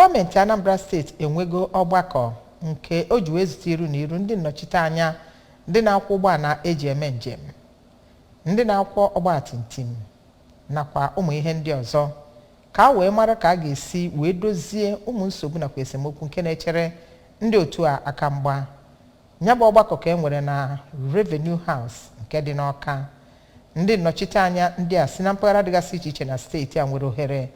Gọọmenti Anambra steeti enwego ọgbakọ nke o ji wee zute iru na iru ndị nnọchite anya ndị na-akwọ ụgbọala eji eme njem, ndị na-akwọ ọgbatumtum nakwa ụmụ ihe ndị ọzọ ka a wee mara ka a ga-esi wee dozie ụmụ nsogbu nakwa esemokwu nke na-echere ndị otu a aka mgba. Ya bụ ọgbakọ ka e nwere na Revenue House nke dị n'Awka. Ndị nnọchite anya ndị a si na mpaghara dịgasị iche iche na steeti a nwere ohere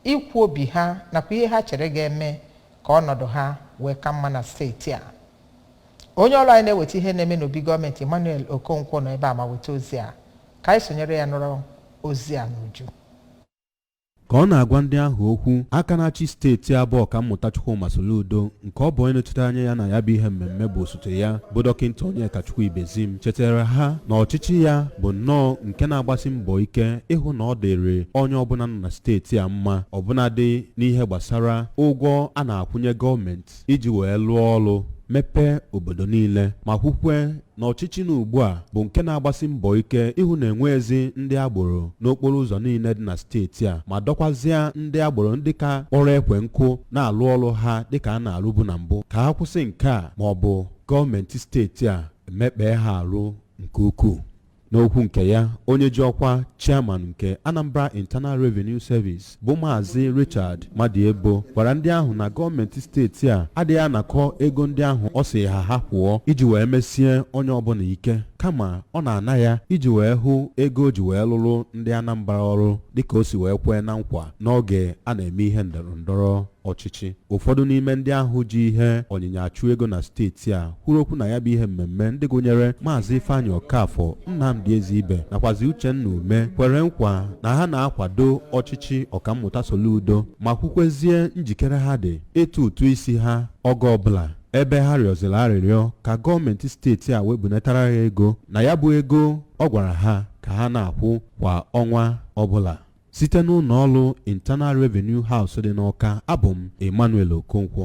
ikwu obi ha nakwa ihe ha chere ga-eme ka ọnọdụ ha wee ka mma na steeti a onye ọrụ anyị na-eweta ihe na-eme n'obi gọọmenti Emmanuel Okonkwo nọ ebe a ma weta ozi a ka anyị sonyere ya nụrụ ozi a n'uju ka ọ na-agwa ndị ahụ okwu aka na-achị steeti a bụ Ọkammụta Chukwuma Soludo nke ọ bụ onye nọchite anya ya na ya bụ ihe mmemme bụ osote ya bụ dọkịnta Onyekachukwu Ibezim chetara ha na ọchịchị ya bụ nnọọ nke na-agbasi mbọ ike ịhụ na ọ dịrị onye ọbụla nọ na steeti a mma ọbụnadị n'ihe gbasara ụgwọ a na-akwụnye gọọmenti iji wee lụọ ọrụ mepee obodo niile ma kwukwe na ọchịchị nọ ugbu a bụ nke na-agbasi mbọ ike ịhụ na enweghịzi ndị agboro n'okporo ụzọ niile dị na steeti a ma dọkwazịa ndị agboro ndị ka kpọrọ ekwe nkụ na-alụ ọrụ ha dịka a na-alụbu na mbụ ka ha kwụsị nke a ma ọ bụ gọọmenti steeti a emekpee ha arụ nke ukwuu n'okwu nke ya onye ji ọkwa chairman nke Anambra Internal Revenue Service bụ maazị Richard Madiebo gwara ndị ahụ na gọọmenti steeti a adịghị anakọ ego ndị ahụ ọ sị ha ha kwụọ iji wee mesie onye ọbụla ike kama ọ na-ana ya iji wee hụ ego o ji wee lụrụ ndị Anambra ọrụ dịka o si wee kwee na nkwa n'oge a na-eme ihe ndọrọ ndọrọ ọchịchị ụfọdụ n'ime ndị ahụ ji ihe ọnyịnya achụ ego na steeti a kwuru okwu na ya bụ ihe mmemme ndị gụnyere maazị ifeanyị ọkafọ nnamdị ezeibe nakwazi uchenna ume kwere nkwa na ha na-akwado ọchịchị ọkammụta soludo ma kwukwezie njikere ha dị ịtụ ụtụ isi ha oge ọbụla ebe ha rịọzịrị arịrịọ ka gọọmenti steeti a webunatara ha ego na ya bụ ego ọ gwara ha ka ha na-akwụ kwa ọnwa ọbụla Site n'ụlọ ọrụ Internal Revenue House dị n'Awka, abụ m Emmanuel Okonkwo.